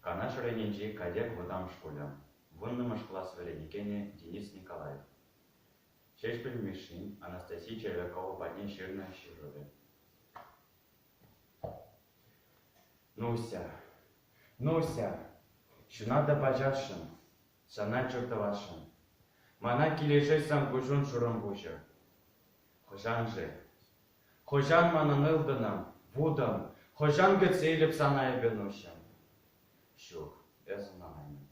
Канаш районӗнчи Катек вӑтам шкулӗ, вуннӑмӗш класс вӗренекенӗ Денис Николаев, Ҫеҫпӗл Мишшин Анастасия Червякова патне ҫырнӑ ҫырӑвӗ. Нуся, Нуся, ҫунатӑп ачашшӑн, сана чур тӑвасшӑн. Мана килӗшет сан куҫун шурӑм пуҫӗ. Хӑшаншӗ? Хӑҫан манӑн ылтӑнӑм, вутӑм, хӑҫан кӗтсе илӗп сана эпӗ нуҫҫӑм? Ҫук, эс ӑнланаймӑн.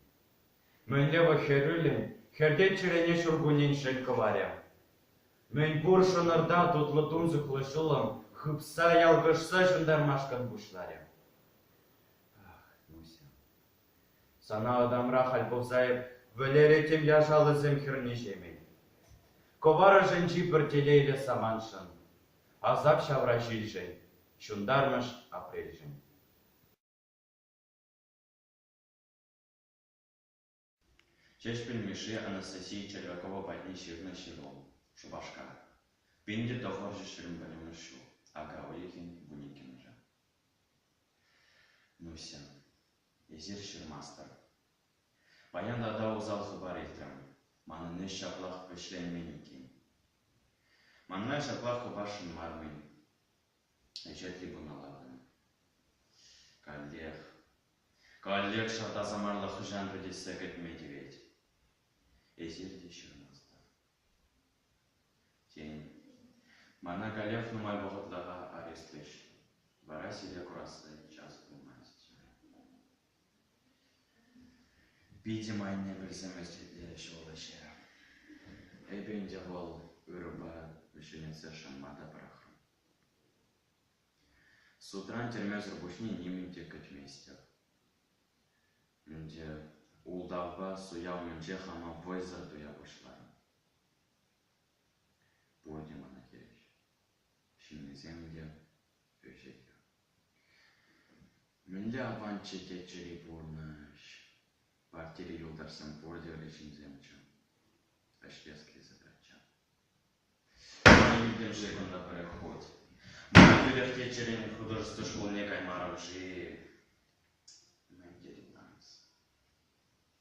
Мӗнле вӑл хӗрӳллӗн хӗртет чӗрене ҫуркуннен шел кӑварӗ? Мӗн пур шӑнӑрта тутлӑ тунсӑхлӑ ҫулӑм хыпса, ялкӑшса ҫунтармашкӑн пуҫларӗ. Ах, нуҫҫӑм, Сана ытамра халь пӑхса эп вӗлеретӗм яшаллисем хӗрне-ҫемен. Кӑвар ӑшӗнчи пӗр телейлӗ самантшӑн, асап ҫавра ҫилшӗн, ҫунтармӑш апрельшӗн. Ҫеҫпӗл Мишши Анастасия Червякова патне ҫырнӑ ҫыру, Шупашкар. Пин те тӑхӑрҫӗ ҫирӗм пӗлӗмӗш ҫул. Ака уйӑхӗн вун иккӗмӗшӗ. Нуся, эсир ҫырмастӑр. Паян тата усал хыпар илтрӗм. Манӑн ӗҫ ҫаплах вӗҫленмен иккен. Манра ҫаплах хыпаршӑн мар-мӗн. Ӗҫе трибуна лартнӑ. Каллех, каллех ҫарта саманлӑ хӑҫан вӗтессе кӗтме тивет. Эсир те ҫырмастӑр. Тен, мана каллех нумай вӑхӑтлӑха арестлӗҫ, вара сире курасси час пулмасть. Питӗм анне пӗлсемӗрччӗ те ҫуллӑҫӗ. Эпӗ ӗнтӗ вӑл ырӑпа ҫӗнетсе шанма та пӑрахрӑм. Судран тӗрмесӗр пуҫне нимӗн те кӗтместӗп. Ӗнтӗ ултавпа суя умӗнче хама вӑйсӑр туя пуҫларӑм. Пурте мана хирӗҫ. Ҫыннисем те ӗҫӗхӗ. Мӗнле аванччӗ те чӗри пурнӑҫ. Партири юлташсем пурте ырӑ ҫынсемччӗ. Ӗҫлес задача. Ман иккӗмӗше кунта пӗрех хут. Мана тӳрех Теччӗрен художество шкулне каймарӑм-ши? Мӗн тетӗп Ларӑс?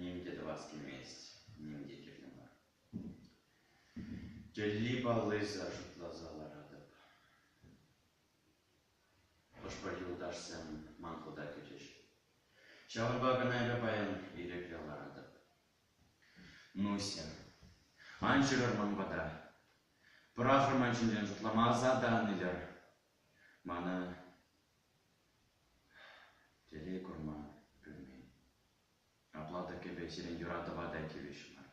Ним те тӑвас килмест, ним те кирлӗ мар. Тӗлли-паллисӗр шутласа ларатӑп. Хӑш-пӗр юлташсем ман хута кӗчӗҫ. Ҫавӑнпа кӑна эпӗ паян ирӗкре ларатӑп. Нуся, ан ҫырӑр ман пата. Пӑрахӑр ман ҫинчен шутлама асата ан илӗр. Мана телей курма пӳрмен. Апла та кӗпе сирӗн юратӑва та тивӗҫмӗр.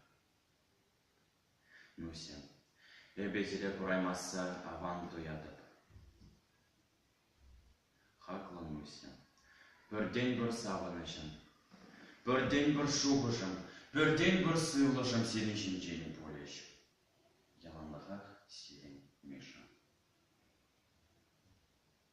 Нуся, эпӗ сире кураймасса аван туятӑп. Хаклӑ Нуся, пӗртен-пӗр савӑнӑҫӑн, пӗртен-пӗр шухӑшӑн, пӗртен-пӗр сывлӑшӑн сирӗн ҫинчен пулӗҫ. Яланлӑхах сирӗн, Миша.